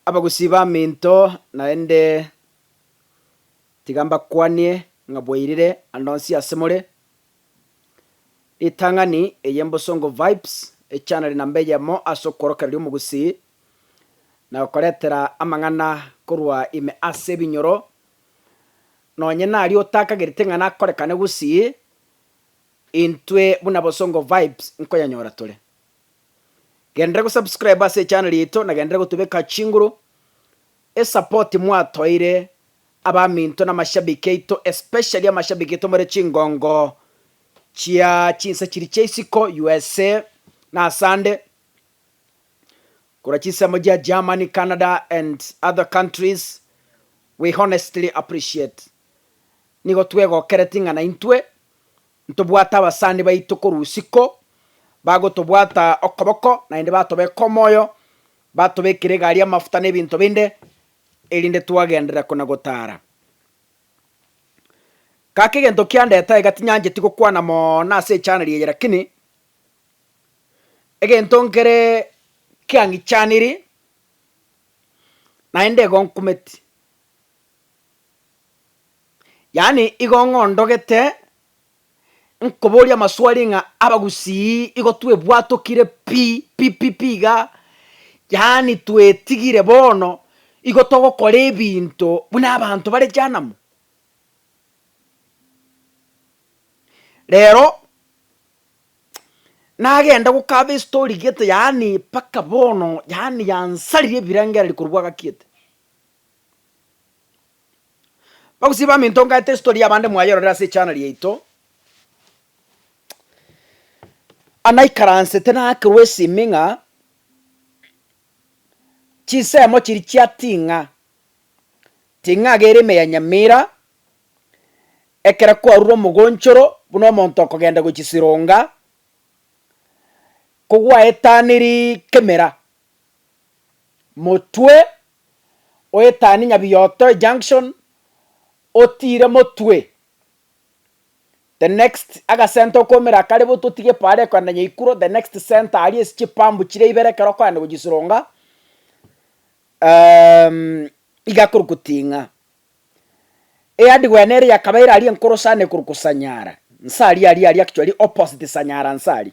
Abagusii baminto, naende tiga mbakwanie ng'a bwairire ande onsi ase more. Ritang'ani eye Mbosongo Vibes, echaneli namba eyemo ase okworokereria omogusii, na gokoretera amang'ana korwa ime ase ebinyoro, nonye naria otakagereti ng'a nakorekane gusii, intwe buna Bosongo Vibes nkoyanyora tore. Genderera go subscribe ase echannel yaito na genderera gotobeka chinguru. Esapoti mwatoire abaminto na amashabiki aito especially amashabiki aito more chingongo chia chinsa chiri chia isiko USA na asande korwa chinsemo chia Germany, Canada and other countries we honestly appreciate. Nigo twegokereti ng'a naintwe Ntobwate abasani baito korwa isiko, bagotobwata okoboko, naende batobeka omoyo, batobekera egari y'amafuta na ebinto binde, erinde twagenderera kona-gotaara. Kaka egento kiandete aiga tinyancheti gokwana mono ase echaniri eye lakini, egento nkere kiang'ichaniri, naende igo nkumeti. Yaani igo ng'ondogete nkoboria amaswali ng'a abagusii igo twebwatokire pi pi pi pi iga, yaani twetigire bono igo togokora ebinto buna abanto bare jehanamu. Rero nagenda gokaba estori gete yaani mpaka bono yaani yansarire ebirengereri korwa gwagakiete. Bagusii baminto ngaete story yabande mwayerorire ase echannel yaito, anaikaransete nakerwa esimi ng'a chinsemo chiria chia ting'a, ting'a iga ere ime ya nyamira, ekero kwarure omogonchoro buna omonto okogenda gochisironga, kogwaetaniri kemera. motwe oetani Nyabioto junction otire motwe the next agasenta okomera akare botu otige pare okogenda Nyaikuro the next center aria ase chipambu chire ibere ekero okogenda gochisirunga iga korokwa Ting'a. Eyard gwene ere yakabeire aria enkoro sana ekorokwa Sanyara nse aria aria aria actually opposite Sanyara nse aria.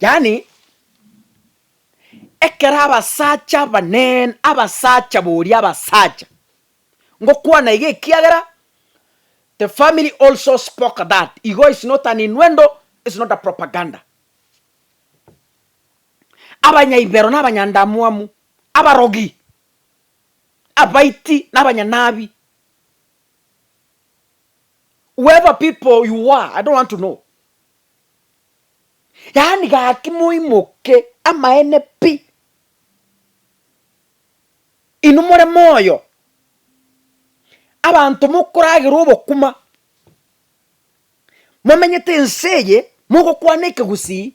Yaani, ekero abasacha abanene, abasacha boria abasacha, ngokwana iga ekiagera the family also spoke that, igo is not an innuendo, is not a propaganda. Abanyaibero na abanyandamwamu, abarogi, abaiti na abanyanabi, whoever people you are, I don't want to know, Yaani gaki moimoke amaene pi. Inwe more moyo, abanto mokoragera obokuma, momenyete ense eye mogokwana ekegusii.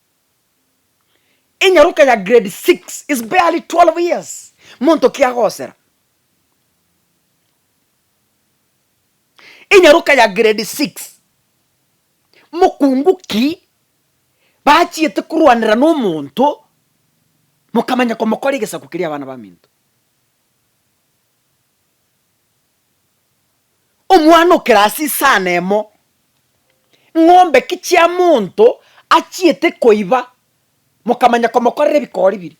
Enyaroka ya grade six is barely twelve years, monto ki agosera? Enyaroka ya grade six, mokungu ki bachiete korwanera na omonto mokamanya komokora egesaku keria abana baminto? Omwana o kerasi isano emo, ng'ombe ki chia monto achiete koiba, mokamanya komokorera ebikori biria.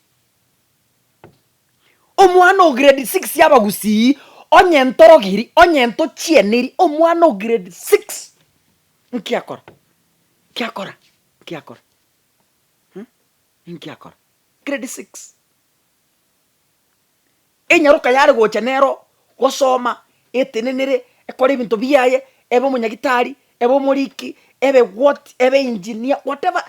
Omwana o grade six y'abagusii, onye ntorogiri, onye ntochieneri, omwana o grade six, nki akora? Nki akora? Nki akora? Nki akora? Grade six. Enyaroka yare gocha nero gosoma, etenenere, ekore ebinto biaye, ebe omonyagitari, ebe omoriki, ebe what, ebe engineer, whatever,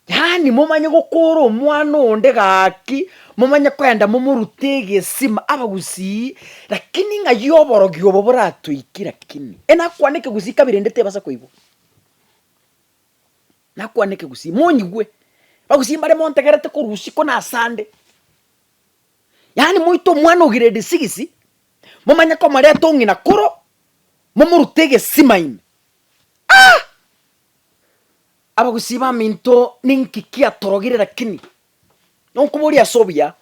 yaani momanye gokora omwana onde gaki, momanye kogenda momorute egesima, abagusii lakini ng'ai oborogi obo boratoiki lakini enakwane ekegusii kabere ende tebasa koigwa, nakwane ekegusii monyigwe, abagusii mbare montegerete korwa usiku na asande. Yaani moite omwana o grade six, momanye komoreta ong'ina koro, momorute egesima ime. Ah! Abagusii baminto ninki kiatorogire lakini, nonkoboria ase obuya,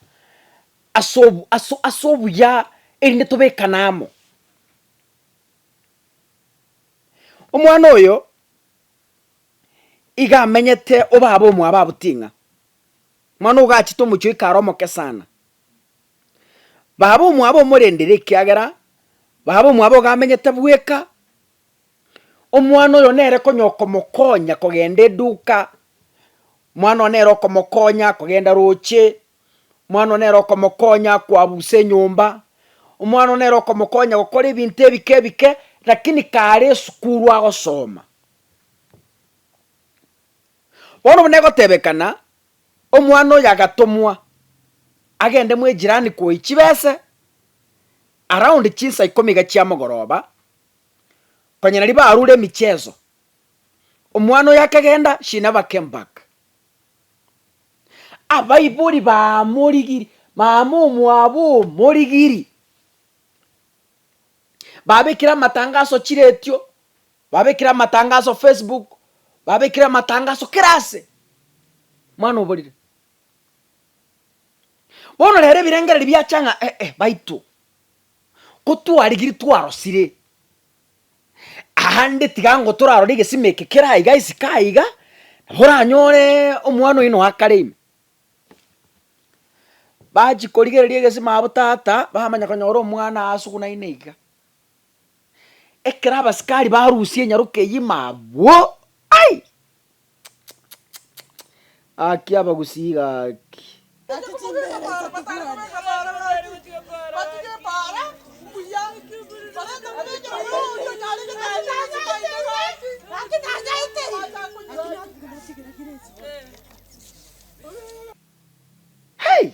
ase obu- ase- ase obuya erinde tobekane amo. Omwana oyo, iga amenyete obabe omwabo abuting'a, Mwana ogachete omochie oika are omoke sana. Baba omwabo omorendere ekiagera baba omwabo iga amenyete bweka. Omwana oyo nere konya okomokonya kogenda eduka, mwana oyo nere okomokonya kogenda roche, mwana oyo nere okomokonya koabusa enyomba, omwana oyo nere okomokonya gokora ebinto ebike ebike, rakini kare esukuru agosoma. Bono buna egotebekana, omwana oyo agatomwa agende mw'ejirani koyia chibese around chinsa ikomi iga chia mogoroba, konya naria barure emichezo, omwana oyo akagenda she never came back. Abaibori bamorigirie, mama omwabo omorigirie, babekire amatangaso chiretio, Babekire amatangaso Facebook, babekire amatangaso kera ase. Mwana oborire. Bono rero ebirengererio biacha ng'a eh-eh baito, kotwarigirie twarosire, aande tiga ango torarore egesima eke kera iga isiko aiga, nabo oranyore omwana oyio noe akare ime. Bachi korigereria egesima abwo tata, bamanya konyora omwana asugunaine iga, Ekero abasikari barusia enyaroka eyio ime agwo, ai! Gaki abagusii gaki! Hey!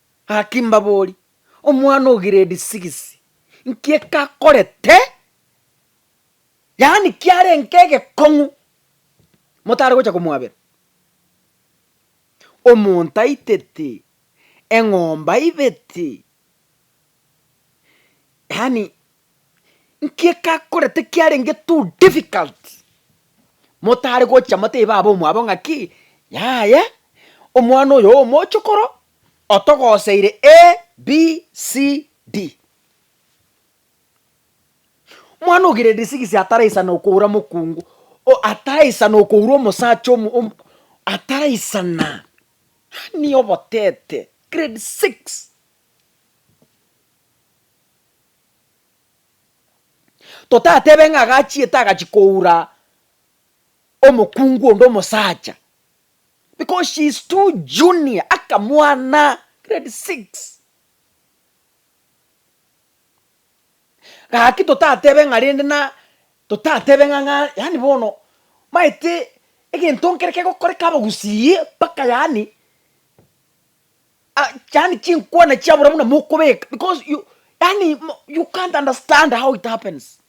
Gaki mbabori, omwana o giredi sigisi, nki ekakorete? Yaani kiarenge egekong'u, motare gocha komwabera? Omonto aiteti, eng'ombe aibeti, Yaani nki ekakorete kiarenge too difficult, motare gocha motebe baba omwabo ng'aki, yaya omwana oyo omochokoro otogoseire ABCD. Mwana o grade six ataraisana okoura mokungu, o ataraisana okoura omosacha omo omo ataraisana, yaani obotete grade six. Totatebe ng'a agachiete agachia koura omokungu onde omosacha because she is too junior akamwana grade six. Gaki totatebe ng'a rende na totatebe ng'a ng'a yaani bono maete egento nkere kegokoreka abagusii mpaka yaani. Ah, yani chinkwana chiabora buna mokobeka because you yani mo- you can't understand how it happens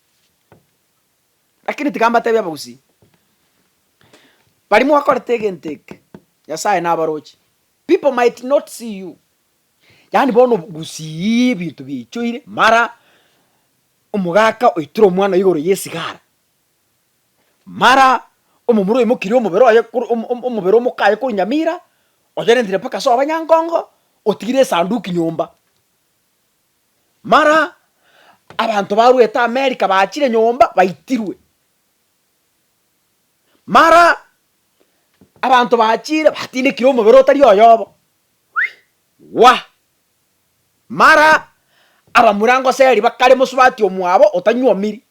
lakini tiga mbatebie abagusii bari mwakorete egento eke nyasaye nabaroche people might not see you yani bono obogusii ebinto biaichoire mara omogaka oitire omwana igoro yesigara Mara omomura oimokirie omobere oye kor om- om- omobere omoka aye korwa nyamira, oyorentire mpaka ase abanyankongo, otigire esanduki nyomba. Mara abanto barwete Amerika bachire nyomba baitirwe. Mara abanto bachire batindekire omobere otari oyobo wah! Mara abamura ngoseri bakare mosubati omwabo otanyuomiri,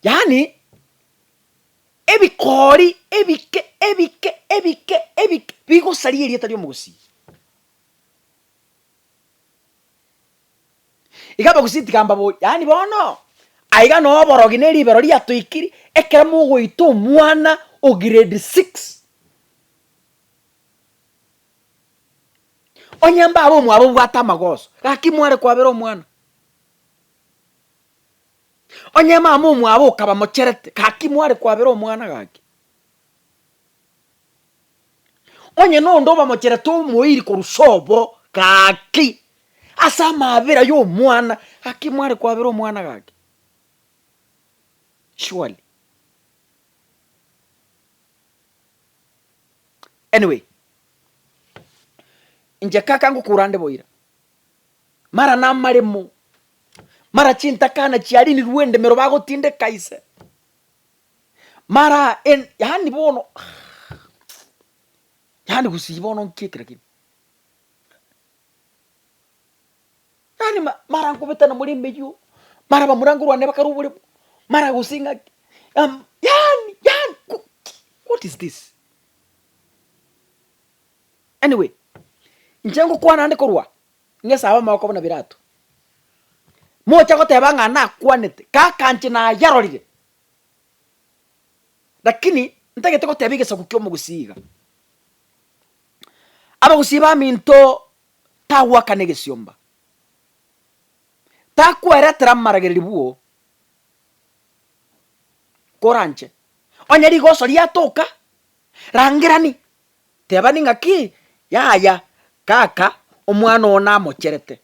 Yaani ebikoori ebike ebike ebike ebike bigosaria erieta ri'omogusii. Iga abagusii tigambaboria, yaani bono aiga na oborogi na eribero riatoikiri, ekero mogoita omwana o grade six, onye mbabe omwabo obwate amagoso, gaki mware kwabera omwana. Onye mama omwabo okaba mocherete, gaki mware kwabera omwana gaki. Onye na onde obamocherete omoiri korwa sobo, gaki ase amabera ya omwana, gaki mware kwabera omwana gaki. Surely. Anyway, inche kaka ngokurande boira. Mara namaremo, mara chintakana chiarinirwe endemero bagotindeka ise, mara en, yaani bono yaani gusii bono nki ekero kire yaani ma mara nkobetana more emeywo, mara abamurango rwane bakare oboremo, mara gose ng'aki yaani yaani yaani go what is this. Anyway, inche ngokwana ande korwa ng'esa abamoko buna birato. Mocha goteba ng'a nakwanete, kaka inche nayarorire, lakini ntagete goteba egesaku ki'omogusii iga. Abagusii baminto tagwakana egesiomba, takweretera amaragereri bwoo kora inche. Onye rigoso riatoka, rangerani Tebani ng'aki, Yaya, kaka, omwana oo namocherete.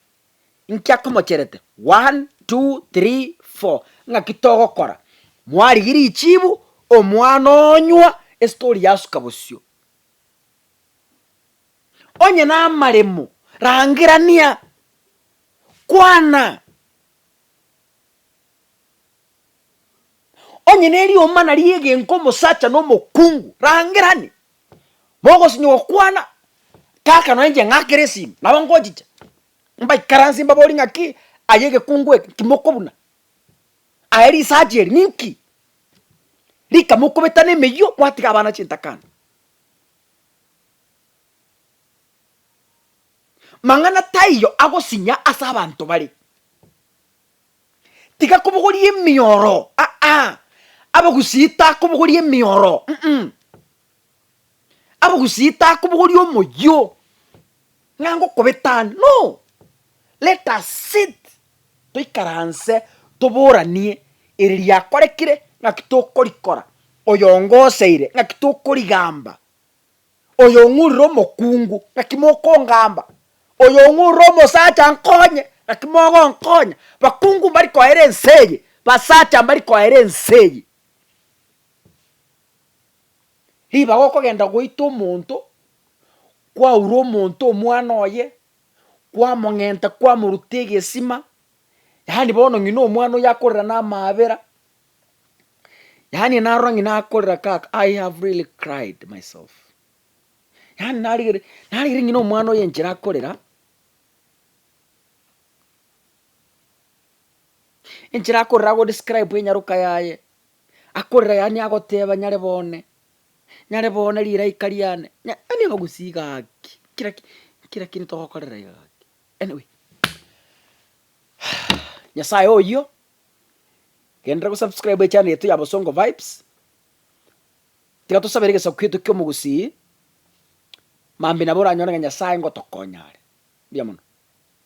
Inki akomocherete? One, two, three, four. Ng'aki togokora? Mwarigia richibu, omwana onywa, estori yasuka bosio. Onye namaremo, rangerania, kwana. Onye nerioma naria egenka omosacha na omokungu, rangerani, mogosinywa gokwana, kaka nonye inche ng'akere esimi, nabo ngochicha, mbaikaransie mbaborie ng'aki aye egekungu eke nki mokobuna? Aye risacha eri ninki? Rika mokobetana emeyio kwatiga abana chintakana. Mang'ana taiyo agosinya ase abanto bare. Tigakobogoria emioro, aa, abagusii takobogoria emioro, mm, abagusii takobogoria omoyio, ng'a ngokobeta ande, no, let us sit toikaranse toboranie eri riakorekire ng'aki tokorikora, oyo ongoseire ng'aki tokorigamba. Oyo ong'urire omokungu, naki mokongamba? Oyo ong'urire omosacha ankonye, naki mogonkonya? Bakungu mbari koera ense eye, basacha mbari koera ense eye. Ribaga okogenda goita omonto, kwaura omonto omwana oye, kwamong'enta kwamoruta egesima, yaani bono ng'ina omwana oyo akorera na amaabera, yaani narora ng'ina akorera kaka i have really cried myself yaani narigere narigere ng'ina omwana oyo enchera akorera enchera akorera agodescribe enyaroka yaye akorera yaani agoteba nyare bone nyare bone riraika riane nya- yaani abagusie gaki kira ki- kira kiri togokorera iga gaki anyway nyasaye oyio Genderera go subscribe echannel yaito ya Bosongo Vibes. Tiga tosabere egesaku kiaito ki'omogusii, mambia nabo oranyore ng'a Nyasae ngotokonya are. Mbuya mono.